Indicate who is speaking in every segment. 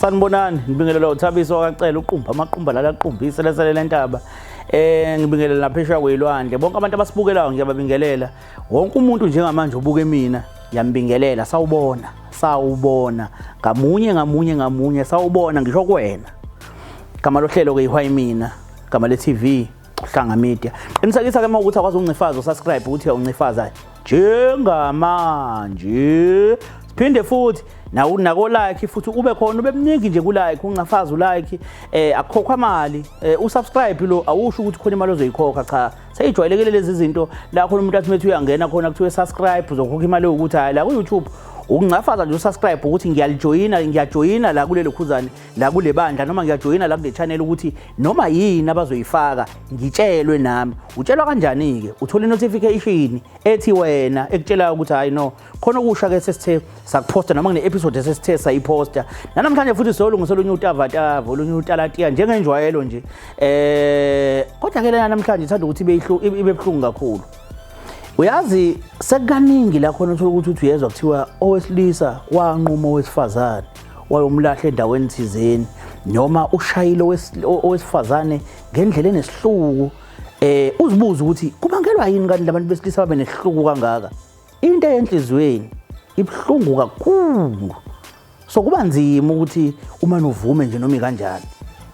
Speaker 1: Sanibonani, ngibingelela uThabiso wakacela uqumba amaqumba lala qumbise lesele lentaba. Eh ngibingelela naphesha kwelwandle. Bonke abantu abasibukelayo ngiyababingelela. Wonke umuntu njengamanje ubuke mina, ngiyambingelela sawubona, sawubona. Ngamunye ngamunye ngamunye sawubona ngisho kuwena. Gama lohlelo ke ihwayi mina, gama le TV. Hlanga Media. Qinisekisa ke mawukuthi akwazi uncifaza usubscribe ukuthi uncifaza njengamanje. Siphinde futhi nawu nako like futhi ube khona ube mningi nje ku like uncafaza u like eh akukhokhwa imali eh, u subscribe lo awusho ukuthi khona imali ozoyikhokha cha seyijwayelekile lezi zinto la khona umuntu athi methi uyangena khona kuthiwe subscribe uzokhokha imali yokuthi hayi la ku YouTube ukuncafaza nje usubscribe ukuthi ngiyalijoyina ngiyajoyina la kulelo khuzane la kule bandla noma ngiyajoyina la kule channel ukuthi noma yini abazoyifaka ngitshelwe nami utshelwa kanjani ke uthola notification ethi wena ekutshelayo ukuthi hayi no khona okusha ke sesithe sakuposta noma kune episode sesithe sayiposta namhlanje futhi siyolungisa olunye utavatava olunye utalatiya njengenjwayelo nje eh kodwa ke lena namhlanje ithanda ukuthi ibe ibe buhlungu kakhulu uyazi sekukaningi la khona uthola ukuthi uthi uyezwa kuthiwa owesilisa wanquma owesifazane wayomlahla endaweni thizeni noma ushayile owesifazane ngendlela enesihluku eh uzibuza ukuthi kubangelwa yini kanti labantu besilisa babe nesihluku kangaka into eyenhlizweni ibhlungu kakhulu so kuba nzima ukuthi uma novume nje noma kanjani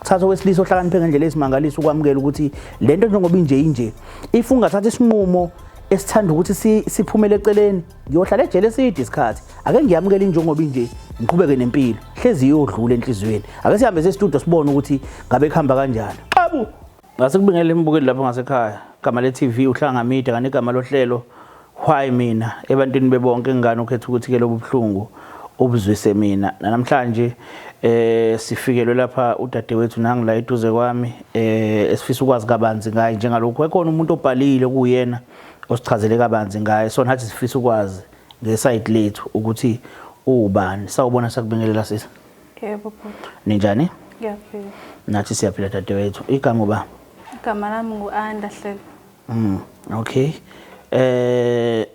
Speaker 1: thatha owesilisa ohlakaniphe ngendlela esimangalisa ukwamukela ukuthi lento njengoba inje inje if ungathatha isinqumo esithanda ukuthi siphumele eceleni ngiyohlala ejele eside isikhathi ake ngiyamukele injengoba inje ngiqhubeke nempilo hlezi iyodlula enhliziyweni ake sihambe sestudio sibone ukuthi ngabe kuhamba kanjani xabu ngase kubingele imbukeli lapho ngasekhaya igama le-tv uhlanga media kanti igama lohlelo why mina ebantwini bebonke ngani ukhetha ukuthi ke lobu buhlungu ubuzwise mina namhlanje eh sifikelwe lapha udadewethu nangila eduze kwami eh esifisa ukwazi kabanzi ngaye njengalokho ekhona umuntu obhalile kuyena osichazele kabanzi ngaye so nathi sifisa ukwazi ngesayidi lethu ukuthi uwubani sawubona sakubingelela sisi yebo
Speaker 2: ninjani
Speaker 1: ngiyaphila
Speaker 2: nathi siyaphila
Speaker 1: dadewethu igama uba igama lami
Speaker 2: ngu-anda hlelo mm
Speaker 1: okay eh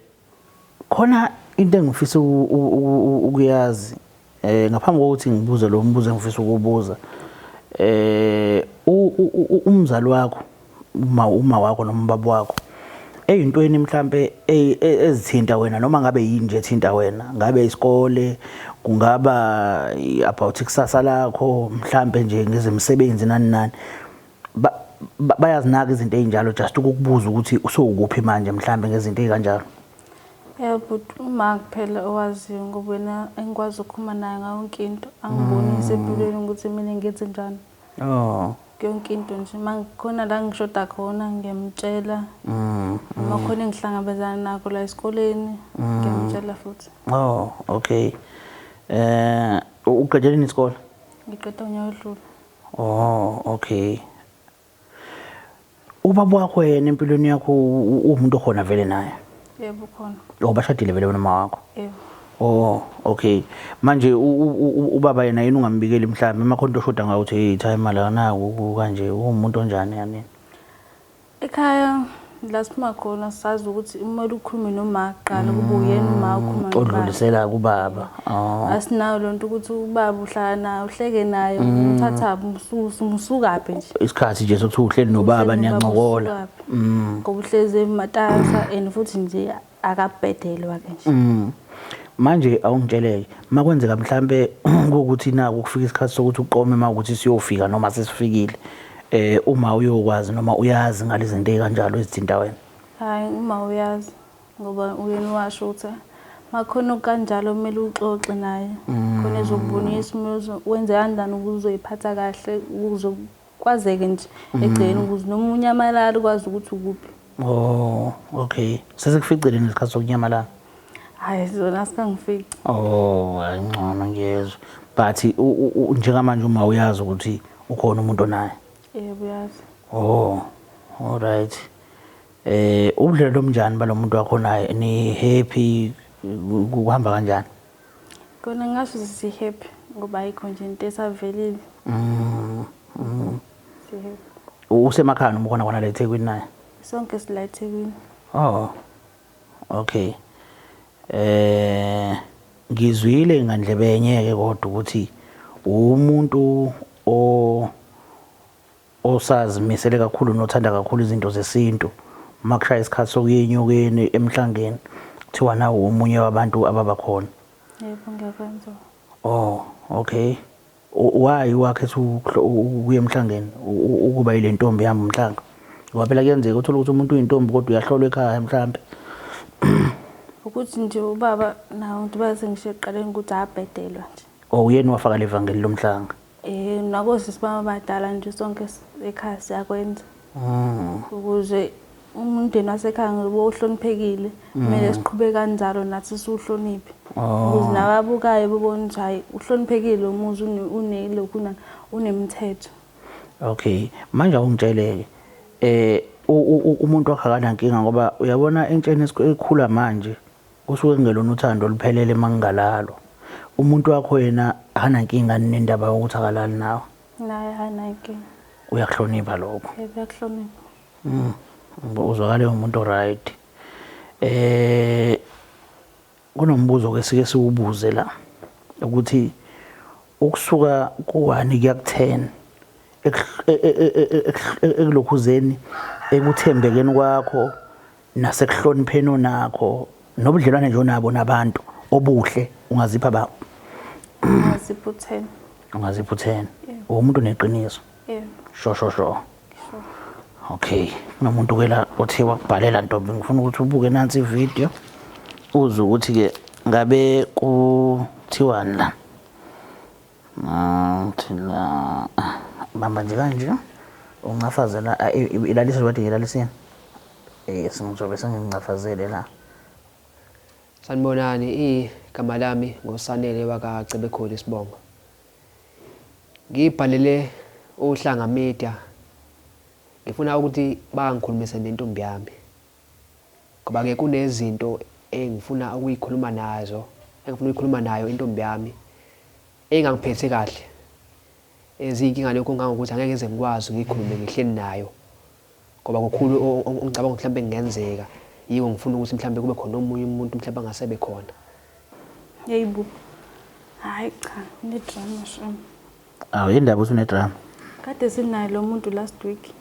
Speaker 1: khona into engifisa ukuyazi Eh ngaphambi kokuthi ngibuze lo mbuzo engifisa ukubuza eh umzali wakho uma uma wakho noma ubaba wakho eyintweni mhlambe e, e, ezithinta wena noma ngabe yini nje ethinta wena ngabe isikole kungaba about ikusasa lakho mhlambe nje ngezemisebenzi nani nani bayazinaka izinto ezinjalo just ukukubuza ukuthi usowukuphi manje mhlambe ngezinto ezikanjalo Yeah
Speaker 2: but uma kuphela owaziyo ngoba wena engikwazi ukukhuluma naye ngayo yonke into angiboni mm. ngisempilweni ukuthi mina ngenze njani oh yonke into nje uma ngikhona la ngishoda khona ngiyamtshela mm, mm. uma khona engihlangabezana nakho la esikoleni ngiyamtshela futhi oh okay
Speaker 1: eh uqedele isikole ngiqeda unyaka
Speaker 2: odlule oh
Speaker 1: okay ubaba wakho yena empilweni yakho uwumuntu okhona vele naye yebo khona
Speaker 2: oh bashadile vele wena mama
Speaker 1: wakho yebo oh
Speaker 2: okay
Speaker 1: manje ubaba yena yini ungambikeli mhlawumbe uma khona into oshoda ngayo uthi hey cha imali akanayo kanje uwumuntu onjani yani
Speaker 2: ekhaya la siphuma khona sazi ukuthi kumele ukhulume noma kuqala kube uyena uma ukhuluma nobaba. odlulisela kubaba
Speaker 1: oh Asinayo lo
Speaker 2: nto ukuthi ubaba uhlala naye uhleke naye umthatha mususa musukaphi nje. isikhathi nje sokuthi uhleli
Speaker 1: nobaba Uhleli nobaba niyancokola usukaphi. Ngoba
Speaker 2: uhlezi ematasa and futhi nje akabhedelwa ke nje mm. manje
Speaker 1: awungitsheleke makwenzeka mhlambe ukuthi naku kufika isikhathi sokuthi uqome uma ukuthi siyofika noma sesifikile eh uma uyokwazi noma uyazi ngalezinto ezikanjalo ezithinta wena hayi uma
Speaker 2: uyazi ngoba uyena washo ukuthi makhona kanjalo kumele uxoxe naye khona ezokubonisa umuntu wenze kanjani ukuze uzoyiphatha kahle ukuze Kwazeke nje egcekeni mm. ukuze noma unyamalala ukwazi ukuthi ukuphi. Oh,
Speaker 1: okay. Sesikuficile ngesikhathi sokunyamalala. Hayi
Speaker 2: zona sikangifici. Oh,
Speaker 1: ayingcono ngiyezwa. But njengamanje uma uyazi ukuthi ukhona umuntu onaye. Yebo uyazi.
Speaker 2: Oh.
Speaker 1: All right. Eh, ubudlelwano obunjani balomuntu wakho naye? Ni happy kuhamba kanjani? Kona
Speaker 2: ngasho si happy ngoba ayikho nje into esavelile. Mhm. Mm. Si happy. Usemakhaya noma
Speaker 1: khona khona la eThekwini naye? Sonke sila
Speaker 2: eThekwini. Oh.
Speaker 1: Okay. Eh ngizwile ngandlebe yenye ke kodwa ukuthi umuntu o osazimisele kakhulu nothanda kakhulu izinto zesintu uma kushaya isikhathi sokuya enyokeni emhlangeni kuthiwa nawo omunye wabantu ababa khona
Speaker 2: yebo
Speaker 1: ngiyakwenza oh okay why wakhe ukuya emhlangeni ukuba ile ntombi yami umhlanga ngoba phela kuyenzeka uthole ukuthi umuntu uyintombi kodwa uyahlolwa ekhaya mhlampe
Speaker 2: ukuthi nje ubaba nawo ngibaze ngisho ekuqaleni ukuthi abhedelwa nje Oh uyena wafaka
Speaker 1: levangeli lomhlanga. Eh nakosisi
Speaker 2: baba badala nje sonke ekhaya siyakwenza. Mm. Ukuze umndeni wasekhaya ngoba uhloniphekile kumele mm. siqhube kanjalo nathi siwuhloniphe oh. ukuze nababukayo bebone ukuthi hhayi uhloniphekile umuzi unelokhu nani unemithetho okay
Speaker 1: manje awungitshele-ke um umuntu wakhe akanankinga ngoba uyabona entsheni ekhula manje Kusuke kungelona uthando oluphelele uma kungalalwa. Umuntu wakho yena akanankinga nendaba yokuthi akalali nawe. Naye
Speaker 2: akanankinga. Uyakuhlonipha
Speaker 1: lokho.
Speaker 2: Uyakuhlonipha.
Speaker 1: Mm. Uzwakale umuntu right. Eh kunombuzo ke sike siwubuze la ukuthi ukusuka ku-1 kuya ku-10 ekulokhuzeni ekuthembekeni kwakho nasekuhlonipheni onakho nobudlelwane nje onabo nabantu obuhle ungazipha ba ungaziphutheni
Speaker 2: ungaziphutheni
Speaker 1: umuntu neqiniso yebo sho sho
Speaker 2: sho
Speaker 1: okay nomuntu ke la othi wakubhalela ntombi ngifuna ukuthi ubuke nansi ivideo uze ukuthi ke ngabe kuthiwani la Ngithula. Bamba nje kanje. Uncafazela ilalisa wathi ngilalise. Eh singizobe sengincafazele la. Sanibonani
Speaker 3: igama lami ngosanele waka Cebekhulu Sibongo. Ngibhalele uhlanga media ngifuna ukuthi bangikhulumise nentombi yami. Ngoba ke kunezinto engifuna ukuyikhuluma nazo engifuna ukuyikhuluma nayo intombi yami engangiphethe kahle eziyinkinga lokho ngangokuthi angeke ngize ngikwazi ngikhulume ngihleli nayo ngoba kukhulu ongicabanga ukuthi mhlawumbe kungenzeka yiko ngifuna ukuthi mhlawumbe kube khona omunye umuntu mhlawumbe angasebe khona
Speaker 2: yeyibo hayi cha nidrama sham Awu yindaba uthi
Speaker 1: unedrama. Kade sinaye
Speaker 2: lo muntu last week.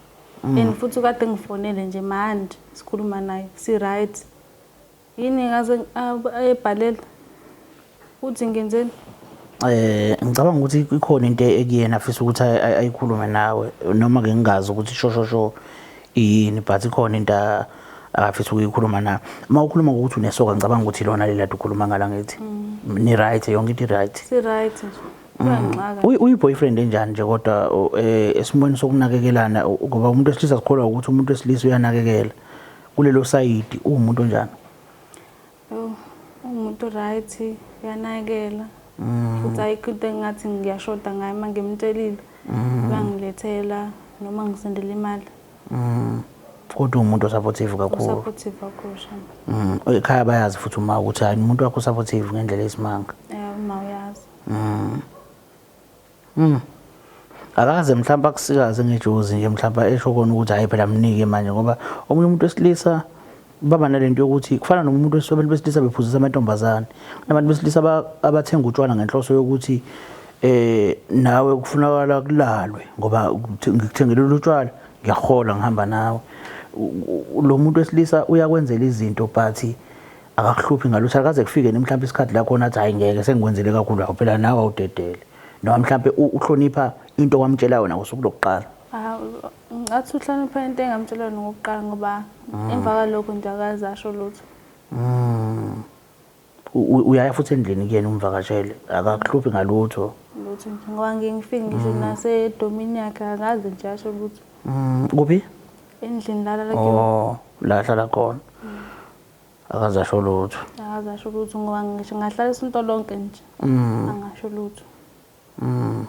Speaker 2: Mm. And futhi kade ngifonele nje manje sikhuluma naye si right. Yini ngaze ayebhalela. Uthi ngenzeni? Eh
Speaker 1: ngicabanga ukuthi ikhona into ekuyena afisa ukuthi ayikhulume nawe noma ke ngingazi ukuthi shosho sho yini but ikhona into akafisa ukuyikhuluma na uma ukhuluma ngokuthi unesoka ngicabanga ukuthi lona lelade ukhuluma ngala ngithi mm. ni right yonke into right si right uyiboyfriend enjani nje kodwa eh, esimweni sokunakekelana ngoba umuntu wesilisa sikholwa ukuthi umuntu wesilisa uyanakekela kulelo sayidi uwumuntu onjani
Speaker 2: umuntu right uyanakekela mm. futhi ayikho into engathi ngiyashoda ngayo uma ngimtshelile mm. bangilethela noma ngisendela imali mm.
Speaker 1: kodwa umuntu osupportive kakhulu supportive
Speaker 2: kakhulu shamba ekhaya bayazi futhi
Speaker 1: uma ukuthi hayi umuntu wakho supportive ngendlela esimanga eh uma uyazi
Speaker 2: Mm. Mm.
Speaker 1: Akaze mhlawumbe akusikaze ngejozi nje mhlawumbe esho kona ukuthi hayi phela mnike manje ngoba omunye umuntu wesilisa baba nalento yokuthi kufana nomuntu wesobeni besilisa bephuzisa amantombazane nabantu besilisa abathenga utshwala ngenhloso yokuthi eh nawe kufunakala kulalwe ngoba ngikuthengele utshwala ngiyahola ngihamba nawe lo muntu wesilisa uyakwenzela izinto but akakuhluphi ngalutho akaze kufike ni mhlawumbe isikhathi la khona athi hayi ngeke sengikwenzele kakhulu awu phela nawe awudedele noma mhlawumbe uhlonipha into wamtshela yona ngosuku lokuqala
Speaker 2: ngathi uhlonipha into engamtshela yona ngokuqala ngoba mm. emva kwalokho nje akaze asho lutho mm.
Speaker 1: uyaya futhi endlini kuyena umvakashele akakuhluphi ngalutho lutho nje ngoba
Speaker 2: ngike ngifike ngisho mm. nasedomini yakhe akaze nje asho lutho kuphi
Speaker 1: endlini
Speaker 2: lala la oh, la hlala
Speaker 1: khona akaze asho lutho akaze asho lutho ngoba
Speaker 2: ngisho ngahlala isinto lonke nje mm. angasho lutho mm.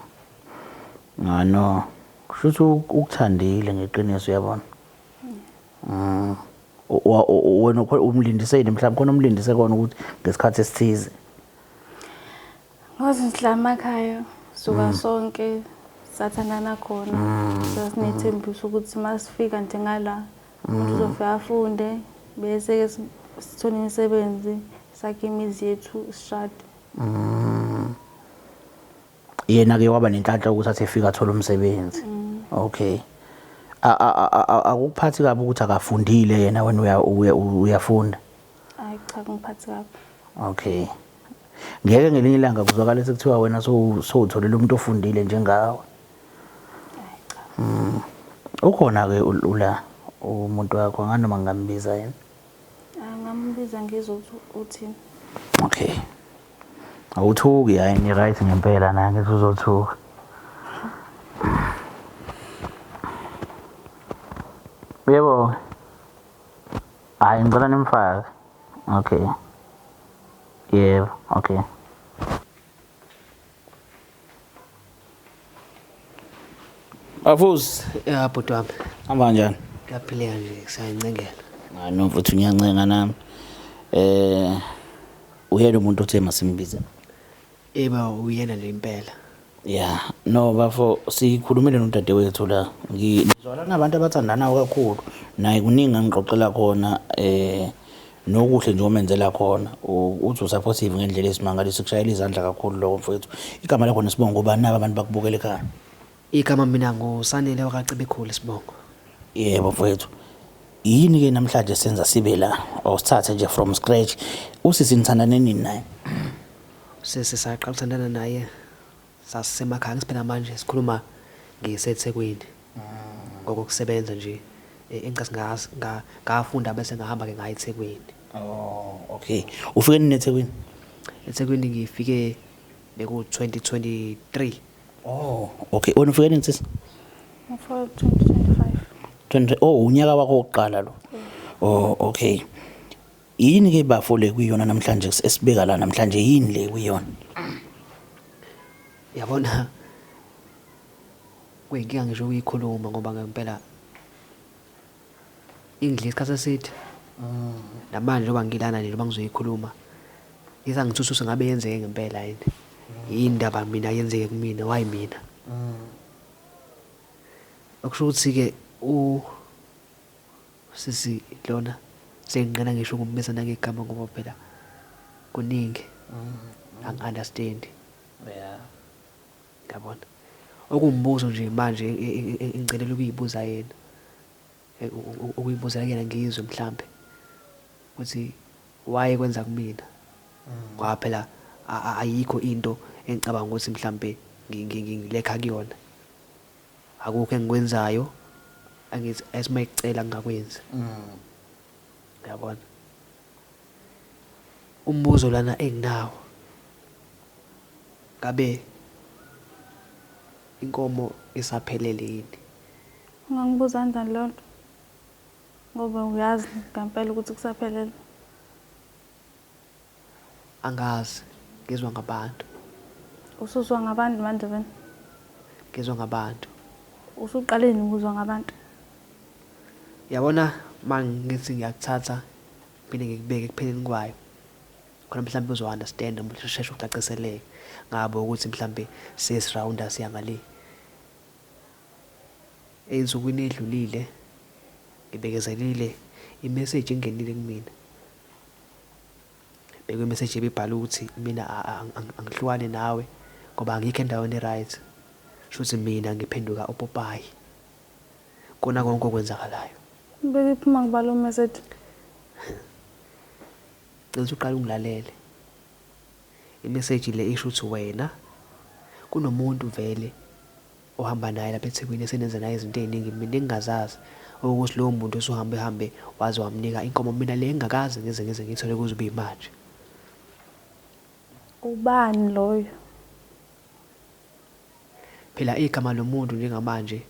Speaker 1: ngano ah, kusho ukuthi ukuthandile ngeqiniso uyabona mm. wena umlindise yini mhlawumbe khona umlindise kona ukuthi ngesikhathi esithize
Speaker 2: ngoze ngihlama ekhaya suka mm. sonke sathandana khona mm. sasinethembiso ukuthi masifika nje ngala umuntu mm. uzofika afunde bese-ke sithole imisebenzi sakhe imizi yethu sishade mm.
Speaker 1: yena-ke waba nenhlanhla ukuthi athi efika athole umsebenzi mm. okay akukuphathi kabi ukuthi akafundile yena wena uyafunda hayi cha
Speaker 2: kungiphathi kabi okay
Speaker 1: ngeke ngelinye ilanga kuzwakala sekuthiwa wena sowutholela umuntu ofundile njengawe Ay
Speaker 2: cha. Mm. Ukhona ke
Speaker 1: ula umuntu wakho nganoma ngambiza yena. Angambiza
Speaker 2: ngizwe ukuthi uthini. Okay.
Speaker 1: Awuthuki hayi ni right ngempela na ngithi uzothuka. Yebo. Hayi ngicela nimfake. Okay. Yebo, okay. Afuzi. Ya bhuti wami.
Speaker 3: Hamba kanjani?
Speaker 1: Ngiyaphileka nje
Speaker 3: kusayincengela. Hayi no mfuthu
Speaker 1: ngiyancenga nami. Eh uyena umuntu othe masimbize. Eba
Speaker 3: uyena nje impela. Yeah,
Speaker 1: no bafo sikhulumile nodadewethu la. Ngizwala nabantu abathandana kakhulu. Naye kuningi angixoxela khona eh Nokuhle nje omenzela khona uthi usupportive ngendlela esimangaliso kushayela izandla kakhulu lokho mfowethu. Igama lakho nesibongo ngubani nabo abantu bakubukela ekhaya? Igama mina
Speaker 3: nguSanele wakaCebekhulu isibongo. Yebo mfowethu.
Speaker 1: Yini ke namhlanje senza sibe la awusithathe nje from scratch usisi nithandane nini naye? Sisi
Speaker 3: saqala uthandana naye Sasisemakhaya ngithi phela manje sikhuluma ngiseThekwini ngokokusebenza nje eh, engicase nga- nga- ngafunda bese ngahamba-ke ngaya eThekwini. Oh,
Speaker 1: okay. Ufike nini eThekwini? EThekwini
Speaker 3: ngifike beku-2023. Oh, okay. Wena
Speaker 1: ufike nini sisi?
Speaker 2: Ngifo
Speaker 1: 2025. 20 Oh, unyaka wakho wokuqala lo. Oh, okay. Yini ke bafo le kuyona namhlanje esibeka la namhlanje yini le kuyona?
Speaker 3: Yabona kuyinkinga ngisho ukuyikhuluma ngoba ngempela ingidla isikhathi eside namanje njengoba ngilana nje njengoba ngizoyikhuluma isangithususe ngabe yenzeke ngempela yini yini indaba mina yenzeke kumina wayi mina okusho ukuthi-ke u Usisi lona senginqena ngisho ukumbiza nangegama ngoba phela kuningi angi understand.
Speaker 1: Yeah.
Speaker 3: Yabona. Okumbuzo nje manje engicelela ukuyibuza yena. Ukuyibuza kuyena ngizwe mhlambe ukuthi why kwenza kumina. Ngoba phela ayikho into engicabanga ukuthi mhlambe ngilekha kuyona. Akukho engikwenzayo angithi as uma ekucela ngingakwenzi. Uyabona? Umbuzo lana enginawo ngabe inkomo isaphelele yini? Ungangibuza
Speaker 2: kanjani leyo nto? Ngoba uyazi ngempela ukuthi kusaphelele.
Speaker 3: Angazi. Ngizwa ngabantu. Usuzwa
Speaker 2: ngabantu manje wena? Ngizwa
Speaker 3: ngabantu. Usuqaleni
Speaker 2: ukuzwa ngabantu?
Speaker 3: Yabona uma ngithi ngiyakuthatha phinde ngikubeke ekupheleni kwayo khona mhlawumbe uzo-understanda mhlawumbe usheshe ucaciseleke ngabo ukuthi mhlawumbe siyesirawunda siya ngale ey'nsukwini ey'dlulile ngibekezelile imeseji engenile kumina bheka imeseji ebibhala ukuthi mina angihlukane nawe ngoba angikho endaweni e-right shuthi mina ngiphenduka upopayi kona konke okwenzakalayo bekiphi uma
Speaker 2: ngibala umeseji
Speaker 3: cela ukuthi uqale ungilalele imeseji le isho ukuthi wena kunomuntu vele ohamba naye lapha eThekwini esenenze naye izinto eziningi mina engingazazi okukuthi lowo muntu usuhambe hambe waze wamnika inkomo mina le engingakaze ngize ngize ngiyithole kuze kube imanje.
Speaker 2: Ubani loyo?
Speaker 3: Phela igama lomuntu njengamanje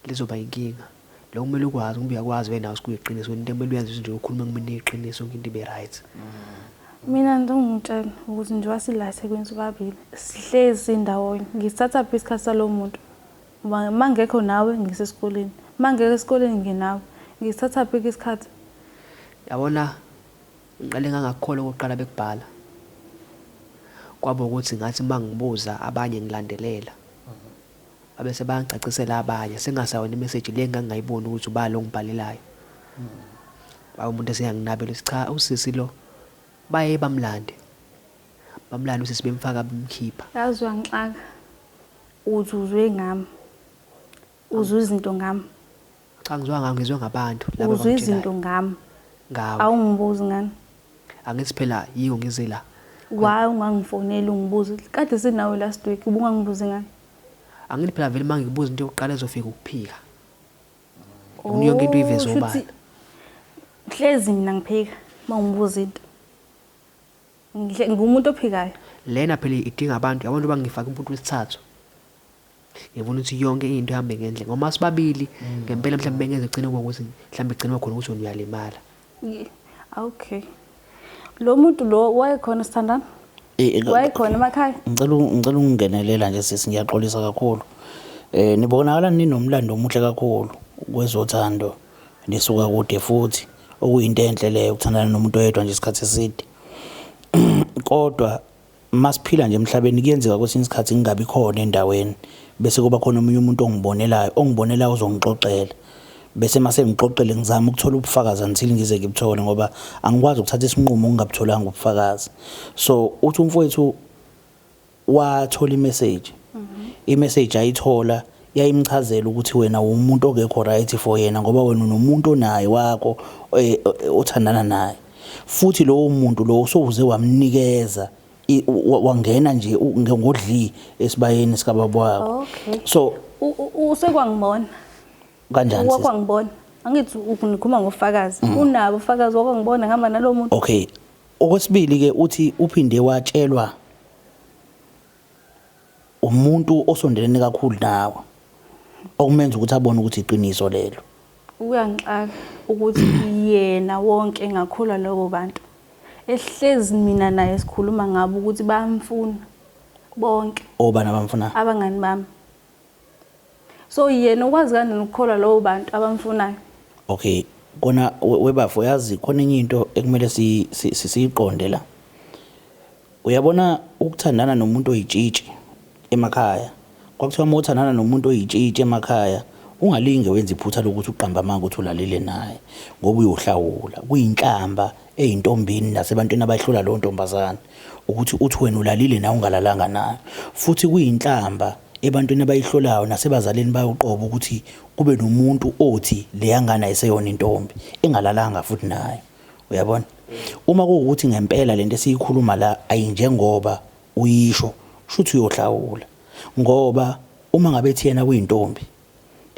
Speaker 3: lizoba inkinga. Lokho kumele ukwazi kumbe uyakwazi wena nawe sikuyiqiniso wena into kumele uyenze nje ukhuluma kumina iqiniso yonke into ibe right. Mina
Speaker 2: ngizongitshela ukuthi njengoba sila eThekwini sobabili sihlezi ndawonye ngisithatha phi isikhathi salo muntu ngoba uma ngekho nawe ngisesikoleni uma ngeke esikoleni ngenawe ngisithatha phi isikhathi yabona
Speaker 3: ngiqale ngangakukhola okokuqala bekubhala kwaba ukuthi ngathi uma ngibuza abanye ngilandelela Abese bayangicacisela abanye sengasayona imeseji le ngangingayiboni ukuthi ubani ongibhalelayo. Babe umuntu eseyanginabela ukuthi cha usisi lo baye bamlande. Bamlande usisi bemfaka bemkhipha. Yazi
Speaker 2: wangixaka uthi uzwe ngami. Uzwe izinto ngami. Cha ngizwa
Speaker 3: ngawo ngizwe ngabantu laba Uzwe izinto
Speaker 2: ngami. Ngawo.
Speaker 3: Awungibuzi ngani?
Speaker 2: Angithi phela
Speaker 3: yiwo ngize la. Why
Speaker 2: ungangifoneli ungibuze? Kade sinawe last week ubungangibuzi ngani? Angithi phela
Speaker 3: vele mangikubuza into yokuqala ezofika ukuphika. Ngifuna yonke into uyiveze obala. Oh,
Speaker 2: Hlezi mina ngiphika mawungibuza into. Ngihle ngumuntu ophikayo. Lena phela idinga
Speaker 3: abantu, abantu bangifaka umuntu wesithathu. ngifuna ukuthi yonke into ihambe ngendlela ngoba sibabili mm. ngempela mhlawumbe bengeze gcine ngokuthi mhlawumbe gcine khona ukuthi wena uyalimala
Speaker 2: okay lo muntu lo wayekhona sithandana eh, eh, wayekhona emakhaya ngicela ngicela
Speaker 1: ukungenelela nje sisi ngiyaxolisa kakhulu eh nibonakala ninomlando omuhle kakhulu kwezothando nisuka kude futhi okuyinto enhle leyo ukuthandana nomuntu oyedwa nje isikhathi eside kodwa Masiphila nje emhlabeni kuyenzeka kwesinye isikhathi ngingabi khona endaweni bese kuba khona omunye umuntu ongibonelayo, ongibonelayo uzongixoxela. Bese uma sengixoxile ngizama ukuthola ubufakazi until ngize ngibuthole ngoba angikwazi ukuthatha isinqumo ngingabutholanga ubufakazi. So uthi umfowethu wathola imeseji, imeseji ayithola yayimchazela ukuthi wena wumuntu ongekho right for yena ngoba wena unomuntu onaye wakho eh, eh, othandana naye futhi lowo muntu lowo sowuze wamnikeza wangena nje ngodli esibayeni sikababa wakho okay. so usekwangibona kanjani wakwangibona angithi
Speaker 2: ukunikhuluma ngofakazi mm. unabo ufakazi wakwangibona ngihamba nalowo muntu okay
Speaker 1: okwesibili ke uthi uphinde watshelwa Umuntu osondelene kakhulu nawe okumenza ukuthi abone ukuthi iqiniso lelo. Kuyangixaka
Speaker 2: ukuthi yena wonke engakholwa lobo bantu ehlezi mina naye sikhuluma ngabo ukuthi bayamfuna bonke. Obani abamfuna?
Speaker 1: Abangani bami.
Speaker 2: so yena ukwazi kanjani ukukholwa lowo bantu abamfunayo okay
Speaker 1: kona webafo yazi khona enye into ekumele siyiqonde la uyabona ukuthandana nomuntu oyitshitshi emakhaya kwakuthiwa uma uthandana nomuntu oyitshitshi emakhaya ungalinge wenze iphutha lokuthi uqamba amanga ukuthi ulalele naye ngoba uyohlawula kuyinhlamba eyintombini nasebantwini abayihlula leyo ntombazane ukuthi uthi wena ulalile nawe ungalalanga nayo futhi kuyinhlamba ebantwini abayihlolayo nasebazalini bayoqoba ukuthi kube nomuntu othi leyangane ayiseyona intombi engalalanga futhi nayo uyabona uma kuwukuthi ngempela lento esiyikhuluma la ayinjengoba uyisho shuthi uyohlawula ngoba uma ngabe thiyena kuyintombi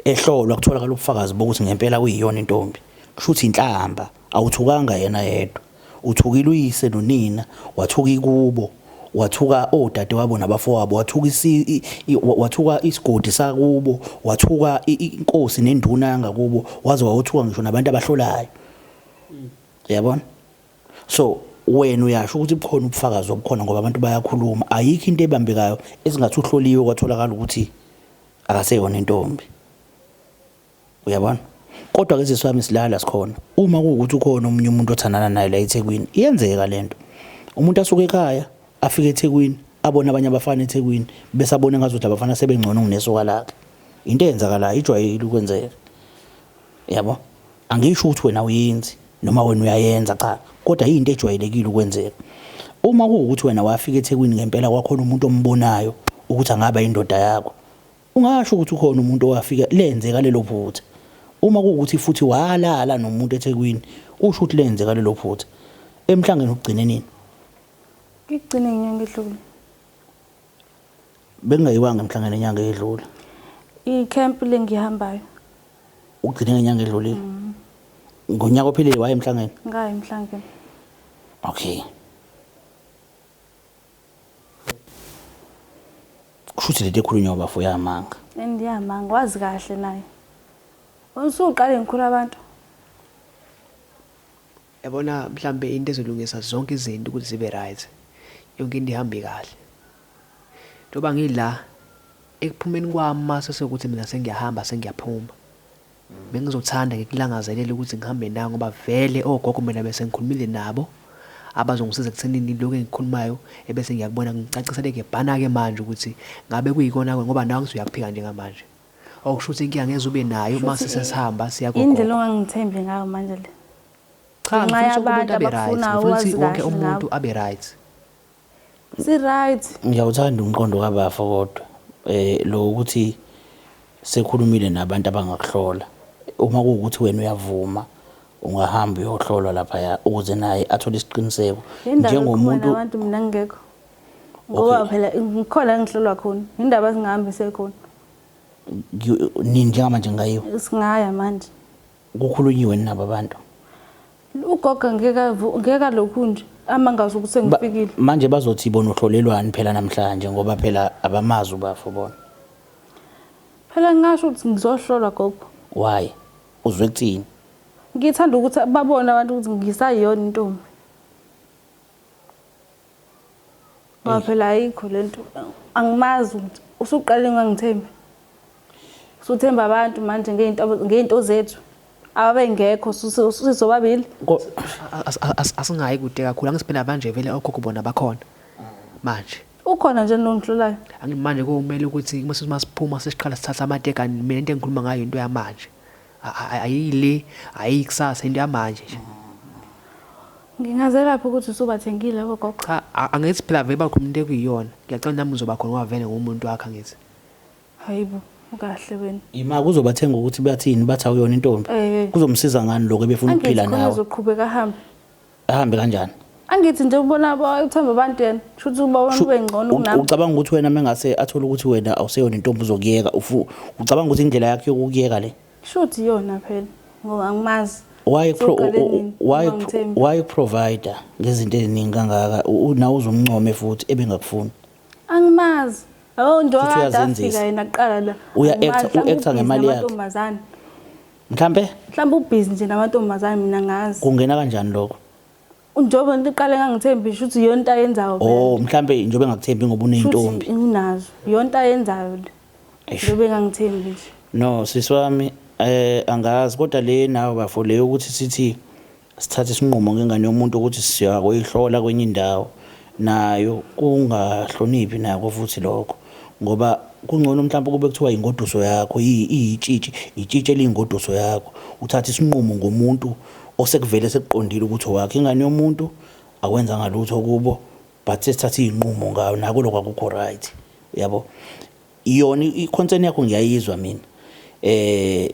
Speaker 1: Ehlolwa kutholakala ubufakazi bokuthi ngempela uyiyona intombi. Kusho ukuthi inhlamba. Awuthukanga yena yedwa. Uthukile uyise nonina, wathuka ikubo, wathuka odadewabo nabafowabo, wathuka isi, i, i, wa- wathuka isigodi sakubo, wathuka i- i- inkosi nenduna yangakubo, waze wawothuka ngisho nabantu abahlolayo. Uyabona? So wena uyasho ukuthi bukhona ubufakazi obukhona ngoba abantu bayakhuluma. Ayikho into ebambekayo esingathi uhloliwe kwatholakala ukuthi akaseyona intombi uyabona kodwa ke siswami silala sikhona uma kuwukuthi ukhona omunye umuntu othandana naye la eThekwini iyenzeka lento umuntu asuke ekhaya afike eThekwini abone abanye abafana eThekwini bese abone ngazuthi abafana sebengcono kunesoka lakhe into eyenzakalayo ijwayele ukwenzeka Yabo? Angisho ukuthi wena uyenzi noma wena uyayenza cha, kodwa yinto ejwayelekile ukwenzeka. Uma kuwukuthi wena wafika eThekwini ngempela kwakhona umuntu ombonayo ukuthi angaba indoda yakho. Ungasho ukuthi ukhona umuntu owafika lenzeka lelo phutha. Uma kuwukuthi futhi walala nomuntu eThekwini, usho ukuthi lenzeka lelo phutha. Emhlangeni ukugcine nini?
Speaker 2: Ngigcine inyanga edlule.
Speaker 1: Bengingayiwanga emhlangeni inyanga edlule. Ikhempi
Speaker 2: lengihambayo.
Speaker 1: Ugcine ngenyanga edlulile. Mm. Ngonyaka ophelile waye emhlangeni? Ngaye emhlangeni.
Speaker 2: Okay.
Speaker 1: Kushuthi lento ekhulunywa bafo yamanga. Endiyamanga wazi
Speaker 2: kahle naye. Usuqale ngikhulu abantu.
Speaker 3: Yabona mhlambe into ezolungisa zonke izinto ukuthi zibe right. Yonke into ihambe kahle. Njengoba ngila, ekuphumeni kwami uma sesekuthi mina sengiyahamba, sengiyaphuma, bengizothanda ngikulangazelele ukuthi ngihambe nawe ngoba vele ogogo mina bese ngikhulumile nabo abazongisiza ekuthenini lokhu engikhulumayo ebese ngiyakubona ngicacisele ngebhana-ke manje ukuthi ngabe kuyikona-ke ngoba nawe ngithi uyakuphika njengamanje okusho ukuthi inkinga ngeze ube nayo uma sesesihamba siyakuyindlela ongangithembi
Speaker 2: ngayo manje le cha
Speaker 3: ngifisa umuntu abe right ngifisa wonke umuntu abe right
Speaker 1: si right ngiyawuthanda umqondo
Speaker 2: kabafo
Speaker 1: kodwa eh lo ukuthi sekhulumile nabantu abangakuhlola uma kuwukuthi wena uyavuma ungahamba uyohlolwa lapha ukuze naye athole isiqiniseko njengomuntu
Speaker 2: abantu mina ngingekho ngoba phela ngikhona ngihlolwa khona indaba singahambi sekhona
Speaker 1: nini njengamanje ngayiwe singaya manje
Speaker 2: kukhulunyiwe
Speaker 1: nabo abantu Ugogo
Speaker 2: ngeke ngeke lokhu nje amangazi ukuthi sengifikile. Manje bazothi bona
Speaker 1: uhlolelwani phela namhlanje ngoba phela abamazi ubafo bona.
Speaker 2: Phela ngasho ukuthi ngizohlolwa gogo. Why?
Speaker 1: Uzwe kuthini? Ngithanda
Speaker 2: ukuthi babone abantu ukuthi ngisayiyona intombi. Ngoba phela ayikho le nto angimazi ukuthi usuqale ngangithembi. Usuthemba abantu manje ngey'nto ngey'nto zethu ababengekho sizobabili.
Speaker 3: Asingayi kude kakhulu angisibhena manje vele okhokho bona bakhona manje. Ukhona nje
Speaker 2: nongihlulayo. Angimanje komele
Speaker 3: ukuthi uma siphuma sesiqala sithatha amateka mina into engikhuluma ngayo into yamanje. ayile ayikusasa into yamanje nje ngingazelaphi
Speaker 2: ukuthi usubathengile labo gogo cha angithi phela
Speaker 3: vele bakho umuntu ekuyiyona ngiyacela nami uzoba khona wavele ngomuntu wakhe angithi hayibo
Speaker 2: ukahle wena ima kuzobathenga
Speaker 1: ukuthi bathini bathi awuyona intombi eh. kuzomsiza ngani lokho ebefuna ukuphila nawe uzoqhubeka ahambe
Speaker 2: ahambe
Speaker 1: kanjani angithi nje ubona
Speaker 2: aba- uthemba abantu yena kusho ukuthi uba wena ube ngcono U- kunami ucabanga ukuthi wena mengase
Speaker 1: athole ukuthi wena awuseyona intombi uzokuyeka ufu- ucabanga ukuthi indlela yakhe yokukuyeka le shuthi iyona
Speaker 2: phela ngoba angimazi why pro- u- Soqale u-
Speaker 1: nini? why Uma ngithemba. why provider ngezinto eziningi kangaka U- u- nawe uzomncome futhi ebengakufuni angimazi
Speaker 2: abo nje Futhi wakade uyazenzisa. afika yena kuqala la Uya Angimazi, actor- u-actor mhlawumbe ngemali
Speaker 1: ubhizi yakhe. namantombazane. mhlampe mhlawumbe ubhizi
Speaker 2: nje namantombazane mina ngazi kungena kanjani lokho
Speaker 1: njengoba
Speaker 2: ngiqale ngangithembi ngisho ukuthi yona into ayenzayo oh mhlampe njengoba
Speaker 1: engakuthembi ngoba uneyintombi unazo yona
Speaker 2: into ayenzayo le njengoba engangithembi nje no sisi wami
Speaker 1: eh angazi kodwa le nawe bafo le ukuthi sithi Sithathe isinqumo ngengane yomuntu ukuthi siya kuyihlola kwenye indawo nayo kungahloniphi nako futhi lokho ngoba kungcono mhlawumbe kube kuthiwa ingoduso yakho iyitshitshi itshitshi eliyingoduso yakho uthathe isinqumo ngomuntu osekuvele sekuqondile ukuthi owakhe ingane yomuntu akwenzanga lutho kubo but sesithathe izinqumo ngayo nako lokho akukho right yabo Yona i-concern yakho ngiyayizwa mina. Eh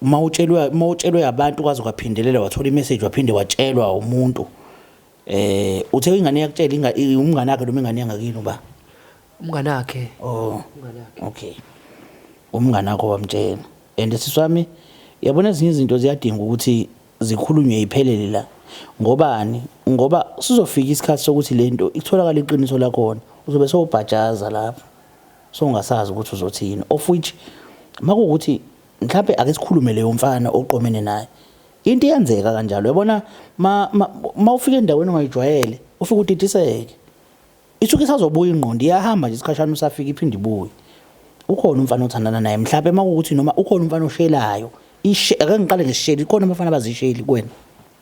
Speaker 1: uma utshelwe uma utshelwe abantu kwaze kwaphindelela wathola imessage waphinde watshelwa umuntu. Eh uthe ingane yakutshela inga umngane wakhe noma ingane yangakini uba. Umngane
Speaker 3: wakhe. Oh. Umngane wakhe.
Speaker 1: Okay. Umngane wakho wamtshela. And siswami yabona ezinye izinto ziyadinga ukuthi zikhulunywe iphelele la. Ngobani? Ngoba sizofika isikhathi sokuthi lento ikutholakala iqiniso lakhona. Uzobe sewubhajaza lapho. So ungasazi ukuthi uzothi yini of which makuwukuthi mhlambe ake sikhulume leyo mfana oqomene naye. Into iyenzeka kanjalo yabona ma, ma, ma ufika endaweni ongayijwayele ufike udidiseke. Isuke isazobuya ingqondo iyahamba nje isikhashana usafika iphinde ibuye. Ukhona umfana othandana naye mhlambe makuwukuthi noma ukhona umfana oshelayo. Ishe ake ngiqale ngesisheli ikhona abafana abazisheli kuwena.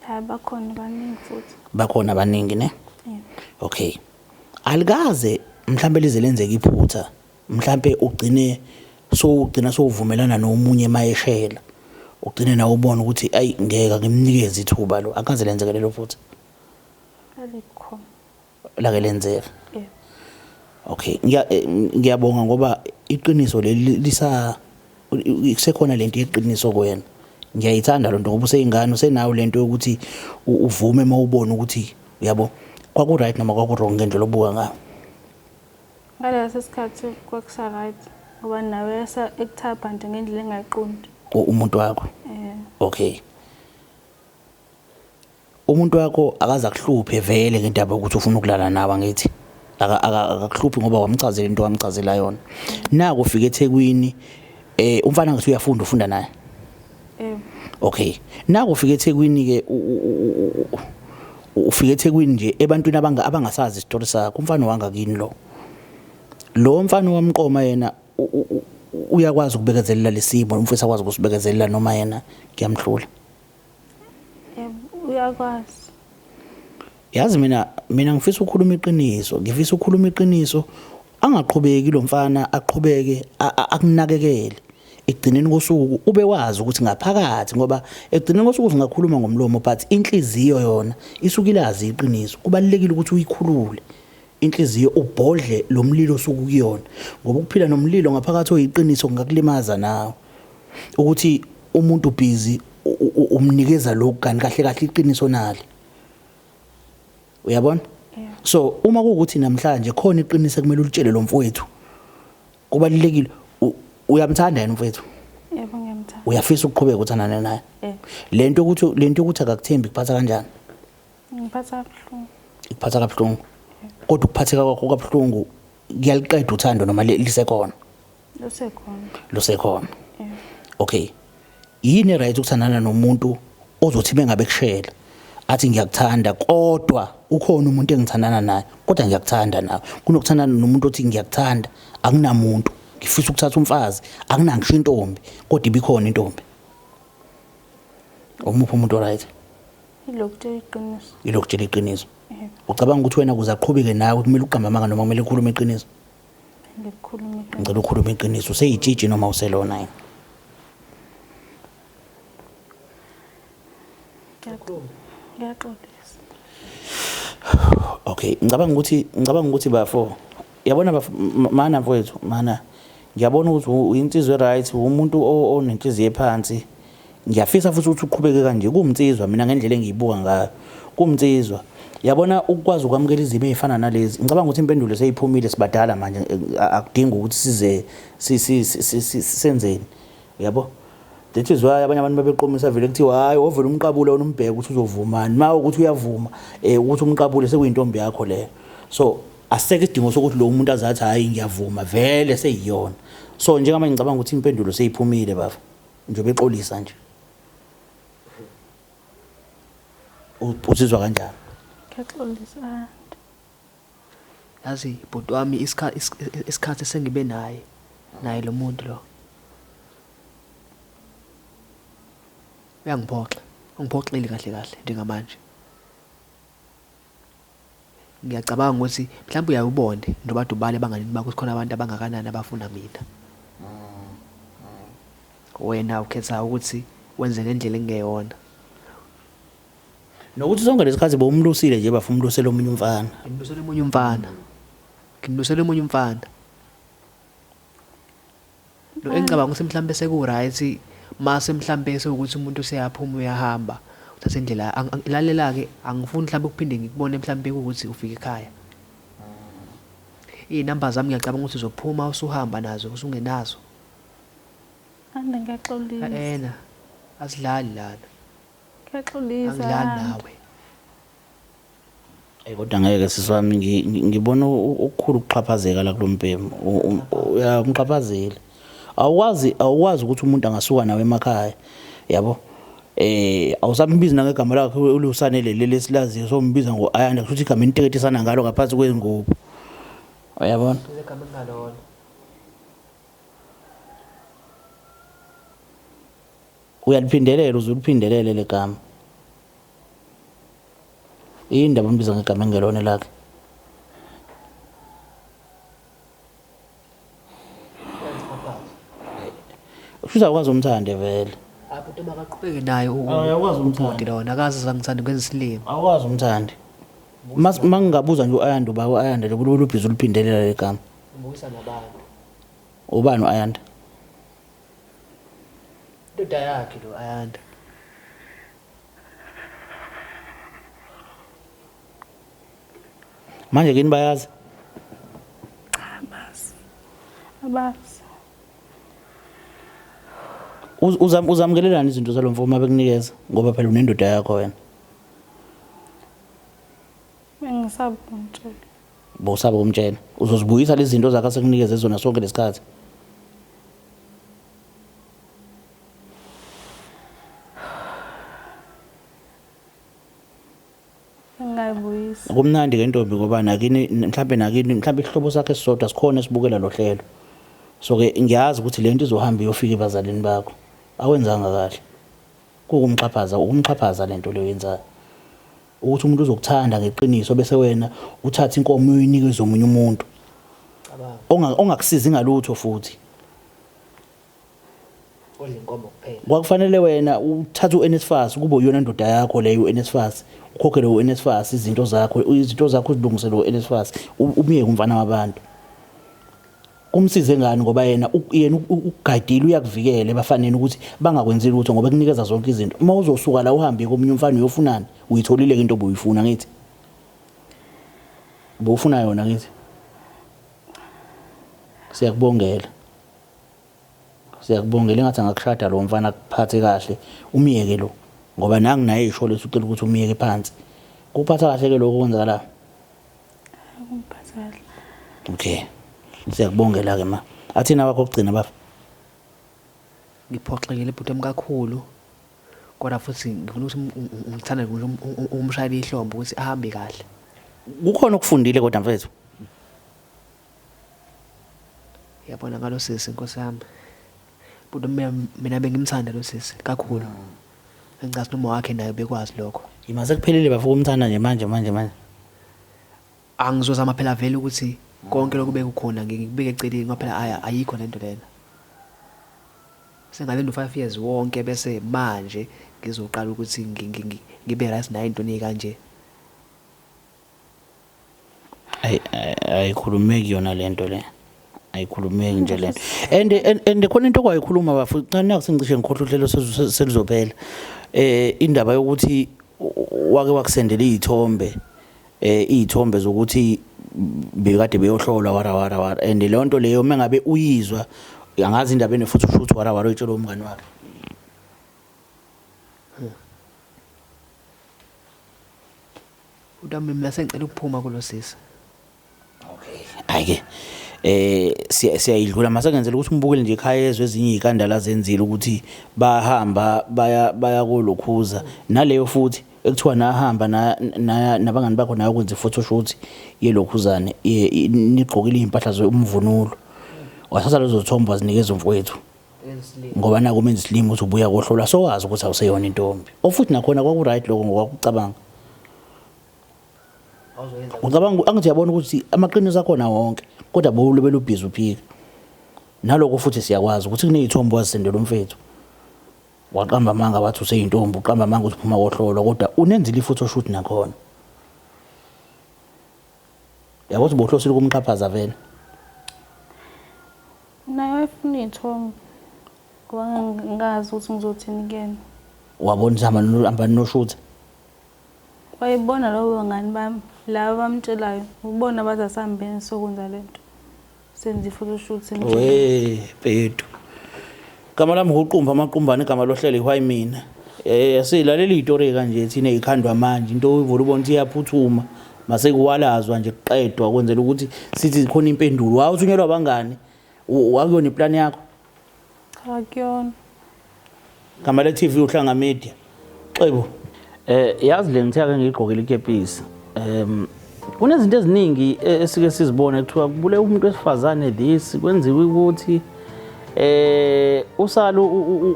Speaker 1: Hayi bakhona
Speaker 2: baningi futhi. Bakhona baningi ne?
Speaker 1: Yeah. Okay. alikaze mhlampe lize lenzeke iphutha mhlampe ugcine sowugcina sowuvumelana nomunye mayeshela ugcine nawe ubona ukuthi ayi ngeke ngimnikeze ithuba lo akaze lenzeke lelo phutha
Speaker 2: alikho
Speaker 1: lake lenzeka okay eh, ngiyabonga ngoba iqiniso leli lisa Kusekhona lento yeqiniso kuyena. Ngiyayithanda lonto ngoba useyingane usenayo lento yokuthi uvume uma ubona ukuthi uyabo kwaku right noma kwaku wrong ngendlela obuka ngayo.
Speaker 2: Ngaleso sikhathi kwakusa right ngoba nawe yasa ekuthapha nje ngendlela engayiqondi. Umuntu wakho.
Speaker 1: Eh. Okay. Umuntu wakho akaze akuhluphe vele ngendaba yokuthi ufuna ukulala nawe angithi. Akakuhluphi ngoba wamchazela into wamchazela yona. Naku ufika eThekwini eh umfana ngathi uyafunda ufunda naye. Yebo. Okay. Naku ufika eThekwini ke ufika eThekwini nje ebantwini abanga abangasazi isitori sakho umfana wanga kini lo. Lo mfana wamqoma yena uyakwazi ukubekezelela lesimo umfisa kwazi ukusibekezelela noma yena kuyamhlula.
Speaker 2: uyakwazi
Speaker 1: yazi mina mina ngifisa ukukhuluma iqiniso ngifisa ukukhuluma iqiniso angaqhubeki lo mfana aqhubeke akunakekele ekugcineni kosuku ube wazi ukuthi ngaphakathi ngoba ekugcineni kosuku singakhuluma ngomlomo but inhliziyo yona isuke ilazi iqiniso kubalekile ukuthi uyikhulule inhliziyo ubhodle lomlilo osuku kuyona ngoba ukuphila nomlilo ngaphakathi oyiqiniso kungakulimaza nawe ukuthi umuntu busy umnikeza lokhu kanti kahle kahle iqiniso nali uyabona so uma kuwukuthi namhlanje khona iqiniso kumele ulitshele lo mfowethu kubalulekile uyamthanda yena mfowethu yebo ngiyamthanda
Speaker 2: uyafisa ukuqhubeka uthandane
Speaker 1: naye lento ukuthi lento ukuthi akakuthembi kuphatha kanjani ngiphatha
Speaker 2: kabuhlungu ikuphatha kabuhlungu
Speaker 1: kodwa ukuphatheka kwakho kabuhlungu kuyaliqeda uthando noma lisekhona lusekhona lusekhona okay yini right ukuthandana nomuntu ozothi bengabe kushela athi ngiyakuthanda kodwa ukhona umuntu engithandana naye kodwa ngiyakuthanda nawe kunokuthandana nomuntu othi ngiyakuthanda akunamuntu ngifisa ukuthatha umfazi akunangisho intombi kodwa ibikhona intombi omuphi umuntu right ilokutshela iqiniso ilokutshela iqiniso ucabanga ukuthi wena kuze aqhubeke nawe kumele uqamba amanga noma kumele ukhulume iqiniso ngicela ukhulume iqiniso useyitshitshi noma uselona yini ngiyaxolisa okay ngicabanga ukuthi ngicabanga ukuthi bafo yabona bafo mana mfowethu mana ngiyabona ukuthi uyinsizwe right umuntu onenhliziyo ephansi Ngiyafisa futhi ukuthi uqhubeke kanje kuwumnsizwa mina ngendlela engiyibuka ngayo. Kuwumnsizwa. Yabona ukwazi ukwamukela izimo ezifana nalezi. Ngicabanga ukuthi impendulo seyiphumile sibadala manje akudingi ukuthi size senzeni. Yabo? That is why abanye abantu babeqomisa vele kuthiwa hayi ovela umqabule wena umbheke ukuthi uzovumani. Uma ukuthi uyavuma eh ukuthi umqabule sekuyintombi yakho leyo. So aseke isidingo sokuthi lo umuntu azathi hayi ngiyavuma vele seyiyona. So njengamanje ngicabanga ukuthi impendulo seyiphumile bafo. Njengoba exolisa nje. Uzizwa kanjani? Ngiyaxolisa
Speaker 2: anti.
Speaker 3: Yazi bhuti wami isikhathi isikhathi sengibe naye naye lo muntu lo. Uyangiphoxa, ungiphoxile kahle kahle njengamanje. Ngiyacabanga ukuthi mhlawumbe uyaye ubone nobadubala ebanganini bakho sikhona abantu abangakanani abafuna mina. Wena ukhetha ukuthi wenze ngendlela engeyona.
Speaker 1: Nokuthi sonke lesikhathi bowumlusile nje bafuna umlusela omunye umfana. Ngimlusela omunye umfana.
Speaker 3: Ngimlusela omunye umfana. No engicabanga ukuthi mhlawumbe sekuwright mase mhlawumbe sewukuthi umuntu seyaphuma uyahamba uthatha indlela lalela ke angifuni mhlawumbe ukuphinde ngikubone mhlawumbe ukuthi ufika ekhaya iy'namba zami ngiyacabanga ukuthi uzophuma usuhamba nazo usungenazo ande
Speaker 2: ngiyaxolisa ena
Speaker 3: asidlali lana ngiyaxolisa
Speaker 2: angidlali nawe
Speaker 1: Hey kodwa ngeke sisi wami ngibona okukhulu ukuxhaphazeka la kulombhemu umxhaphazeli awukwazi awukwazi ukuthi umuntu angasuka nawe emakhaya yabo eh awusambizi nangegama lakhe ulusane leli lesilaziyo sombiza ngo ayanda kusho ukuthi igama eniteketisana ngalo ngaphansi kwengubo uyabona igama engalona Uyaliphindelela uze uliphindelele le gama. Yini ndaba umbiza ngegama engelona lakhe? Usuza ukwazi umthande vele. Abhuti makaqhubeke
Speaker 3: naye u- Awu, uyakwazi ubhuti
Speaker 1: umthanda. lona akazi zangithanda
Speaker 3: ukwenza isilima. Awukwazi umthande.
Speaker 1: Mas mangingabuza nje uAyanda uba uAyanda nje kulubhiza uliphindelela le gama. Ubuyisa
Speaker 3: nabantu. Ubani
Speaker 1: uAyanda?
Speaker 3: Ndoda yakhe lo Ayanda.
Speaker 1: Manje kini bayazi? Cha bazi.
Speaker 2: Abazi.
Speaker 1: Uzam uzamkelelana izinto zalomfo uma bekunikeza ngoba phela unendoda yakho wena.
Speaker 2: Bengisabuntu. Bosaba
Speaker 1: ukumtshela. Uzozibuyisa lezi zinto zakhe asekunikeze zona sonke lesikhathi. Ngayibuyisa.
Speaker 2: Kumnandi ke ntombi
Speaker 1: ngoba nakini mhlambe nakini mhlambe isihlobo sakhe sisodwa sikhona esibukela lo hlelo. So ke ngiyazi ukuthi lento izohamba iyofika ebazalini bakho. Awenzanga kahle. Kukumxhaphaza, ukumxhaphaza lento leyo yenzayo. Ukuthi umuntu uzokuthanda ngeqiniso bese wena uthatha inkomo uyinikeze omunye umuntu ongakusizi ngalutho futhi
Speaker 3: kwakufanele wena
Speaker 1: uthathe uNSFAS kube uyona ndoda yakho leyo uNSFAS ukhokhele uNSFAS izinto zakho izinto zakho uzilungisele uNSFAS umyeke umfana wabantu kumsize ngani ngoba yena yena ugadile uyakuvikela ebafaneni ukuthi bangakwenzi lutho ngoba kunikeza zonke izinto uma uzosuka la uhambe komunye umfana uyofunani uyitholile into obuyifuna ngithi bufuna yona ngithi siyakubongela siyakubongela engathi angakushada lo mfana kuphathe kahle umyeke lo ngoba nangu naye isho leso ucela ukuthi umyeke phansi kuphatha kahle ke lokho kwenzakalayo
Speaker 2: Akungiphatha
Speaker 1: kahle. Okay. Siyakubongela ke ma. Athina wakho kugcina baba. Ngiphoxekile
Speaker 3: bhuti wami kakhulu. Kodwa futhi ngifuna ukuthi ungi- ungi- ungithande ukuthi um- um- um- umshayele ihlombe ukuthi ahambe kahle. Kukhona
Speaker 1: okufundile kodwa mfethu.
Speaker 3: Yabona ngalo sisi Nkosi yami. But mina bengimthanda lo sisi kakhulu. Ngicabanga noma wakhe naye bekwazi lokho. Yima sekuphelile bafika
Speaker 1: umthanda nje manje manje manje.
Speaker 3: Angizozama phela vele ukuthi konke lokhu bekukhona ngikubeke eceleni ngoba phela aya ayikho lento lena. Sengalinda u5 years wonke bese manje ngizoqala ukuthi ngibe right naye into ekanje.
Speaker 1: Ay- ay- ayikhulumeki yona lento le ayikhulumeki nje lento and and- and khona into okwayikhuluma bafu naku sengicishe ngikhohlwa uhlelo sezu- selizophela eh indaba yokuthi u- wake wakusendela izithombe eh izithombe zokuthi bekade beyohlola wara wara wara and leyo nto leyo mengabe uyizwa angazi indaba ene futhi ushuthi wara wara uyitshela umngani wakhe
Speaker 3: Kodwa mina sengicela ukuphuma kulosisi.
Speaker 1: Okay. Ayike. Eh siya- siyayidlula masengenzela ukuthi umbukele nje ekhaya ezwe ezinye izikandala zenzile ukuthi bahamba baya baya kolokhuza naleyo futhi ekuthiwa nahamba na- na- nabangani bakho nayo kwenza photoshoot yelokhuzane ye- i- nigqokile izimpahla zomvunulo. Wathatha lezo thombo wazinikeza umfowethu. ngoba naku umenza isilima ukuthi ubuya kohlolwa sowazi ukuthi awuseyona intombi ofuthi nakhona kwaku-right lokho ngokwakucabanga ucabanga angithi uyabona ukuthi amaqiniso akhona wonke kodwa bowulo belubhizi uphika naloko futhi siyakwazi ukuthi kuney'thombo wazisendela umfethu waqamba amanga wathi useyintombi uqamba amanga ukuthi phuma kohlolwa kodwa unenzile ifuthi oshuthi nakhona yabo ukuthi bohlosile ukumxhaphaza vele
Speaker 2: Naye wayefuna iy'thombe ngoba ngingazi ukuthi ngizothini kuyena. Wabona ukuthi hamba
Speaker 1: no- hamba ninoshutha
Speaker 2: Wayebona labo bangani bami laba abamtshelayo ubona bathi asihambeni sokwenza le nto senze i-photoshoot we
Speaker 1: bhedu Gama lami nguqumba amaqumbane igama lohlelo ihwayi mina. Eh silalele itori kanje thina ikhandwa manje into oyivula ubona ukuthi iyaphuthuma mase kuwalazwa nje kuqedwa kwenzela ukuthi sithi khona impendulo. Wawu uthunyelwa abangani? Akuyona iplan yakho? Cha
Speaker 2: kuyona.
Speaker 1: Gama le TV uhlanga media. Xebo. Eh yazi le ngithe ake ngigqokile ikepisi. Em kunezinto eziningi e, esike sizibone kuthiwa kubule umuntu wesifazane this kwenziwe ukuthi eh usalu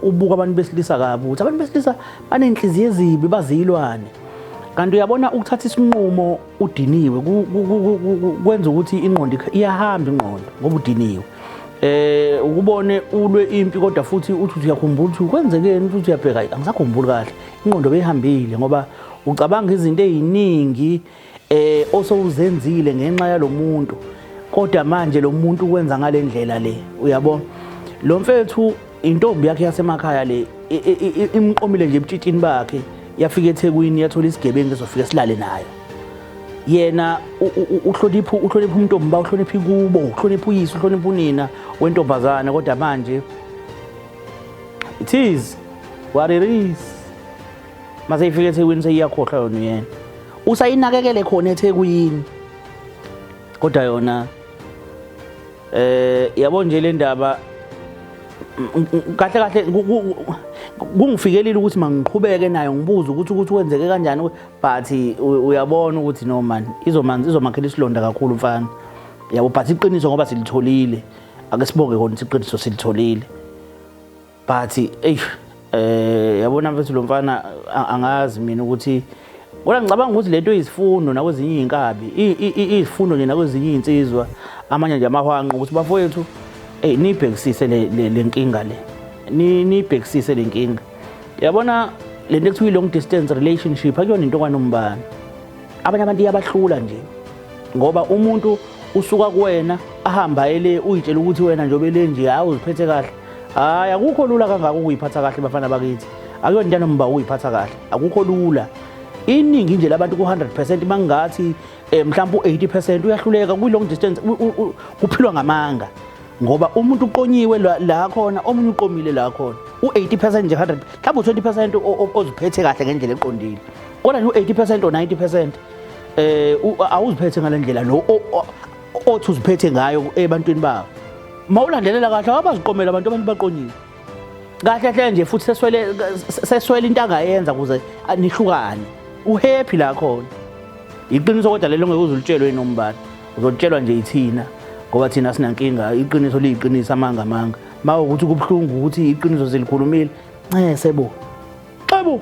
Speaker 1: ubuka abantu besilisa kabi ukuthi abantu besilisa banenhliziyo ezibi bazilwane kanti uyabona ukuthatha isinqumo udiniwe kwenza ukuthi ingqondo iyahamba ingqondo ngoba udiniwe eh ukubone ulwe impi kodwa futhi uthi uyakhumbula ukuthi kwenzekeni uthi uyabheka angisakhumbuli kahle ingqondo beyihambile ngoba ucabanga izinto eziningi eh osowuzenzile ngenxa yalomuntu kodwa manje lo muntu ukwenza ngalendlela le uyabo lo mfethu intombi yakhe yasemakhaya le imqomile nje ebutshitshini bakhe yafika ethekwini yathola isigebengu ezofika silale nayo yena uhlonipha uhlonipha umntombi ba uhlonipha ikubo uhlonipha uyise uhlonipha unina wentombazana kodwa manje it is what it is mase ifika ethekwini seyiyakhohlwa yona uyena usayinakekele khona ethekwini kodwa yona eh yabo nje le ndaba kahle kahle kungifikelile ukuthi mangiqhubeke nayo ngibuze ukuthi ukuthi wenzeke kanjani but uyabona ukuthi no man izomanzi izomakhela isilonda kakhulu mfana yabo but iqiniso ngoba silitholile ake sibonge kona iqiniso silitholile but eish eh yabona mfethu lo mfana angazi mina ukuthi Kodwa ngicabanga ukuthi lento izifundo nakwezinye izinkabi, izifundo nje nakwezinye izinsizwa amanye nje amahwanqa ukuthi bafowethu hey nibhekisise le nkinga le. Nibhekisise le nkinga. Yabona lento ekuthiwa long distance relationship akuyona into kwanombani. Abanye abantu iyabahlula nje. Ngoba umuntu usuka kuwena ahamba ele uyitshela ukuthi wena njobe lenje hawu uziphethe kahle hayi akukho lula kangaka ukuyiphatha kahle bafana bakithi akuyona into yanomba ukuyiphatha kahle akukho lula iningi nje labantu ku-100 percent mangingathi um mhlawumpe u-80 percent uyahluleka kwi-long distance kuphilwa ngamanga ngoba umuntu uqonyiwe la khona omunye uqomile la khona u-80 percent nje 100 mhlawumbe u-20 percent oziphethe kahle ngendlela eqondile kodwa nje u-80 percent or 90 percent um awuziphethe ngale ndlela lo othi uziphethe ngayo ebantwini babo mawulandelela kahle abaziqomela abantu abantu baqonyile kahle hle nje futhi seswele seswele into angayenza kuze nihlukane uhappy la khona iqiniso kodwa lelo ngeke uzulitshelwe nombani uzotshelwa nje ithina ngoba thina sinankinga iqiniso liyiqiniso amanga amanga mawe ukuthi kubuhlungu ukuthi iqiniso zilikhulumile ncese bo xebo